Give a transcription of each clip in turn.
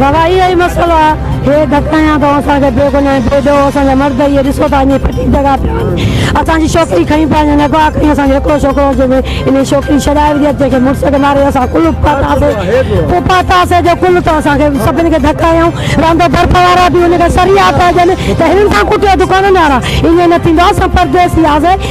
گواهي اهي مسئلو آ هي گهٽايان ٿو اسان کي بي گناهي بي ڏوهه اسان جا مرد اهي ڏسو ٿا اڃي پٽي جڳا پيا آهن اسان جي ڇوڪري کڻي پيا وڃن اڳ آخري اسان جو هڪڙو ڇوڪرو هو جنهن انهي ڇوڪري ڇڏائي وڌي اچي کي مڙس کي ماري اسان ڪل پاتا سي پو پاتا سي جو ڪل ٿو اسان کي سڀن کي ڌڪ هنيائون رهندو برف وارا به ان کي سريا پيا ڏين ته هنن سان ڪٽيو دڪانن وارا ائين نه ٿيندو آ اسان پرديسي آ سي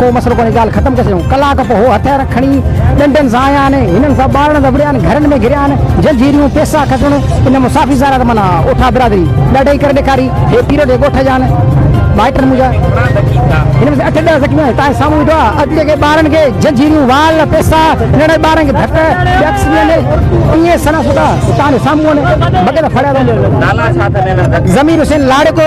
ڪو مسئلو ڪونهي ڳالهه ختم ڪري ڇڏيون. ڪلاڪ پوء هو هٿيار کڻي ڏنڊن سان آيا آهن. هنن سان ٻارڙن ته وڙهيا آهن، گهرن ۾ گهريا آهن، جنجهيريون، پيسا، کسڻ، ان مصافي زارا ته معنيٰ اوٺا برادري ڏاڍا ئي ڪري ڏيکاري. هي پيرو جي ڳوٺ جا آهن، مائٽن منهنجا. هن ۾ اٺ ڏهه زخمي آهن، توهان جي سامهون ويٺو آهي. اڄ جيڪي ٻارڙن کي جنجهيريون، وال، پيسا، ننڍڙن ٻارڙن کي ڌڪ، ڊڪس، ڏيندي ائين سنا سوڌا توهان جي سامهون آهن، بغير ڦڙيا ته. ضمير حسين لاڙڪو.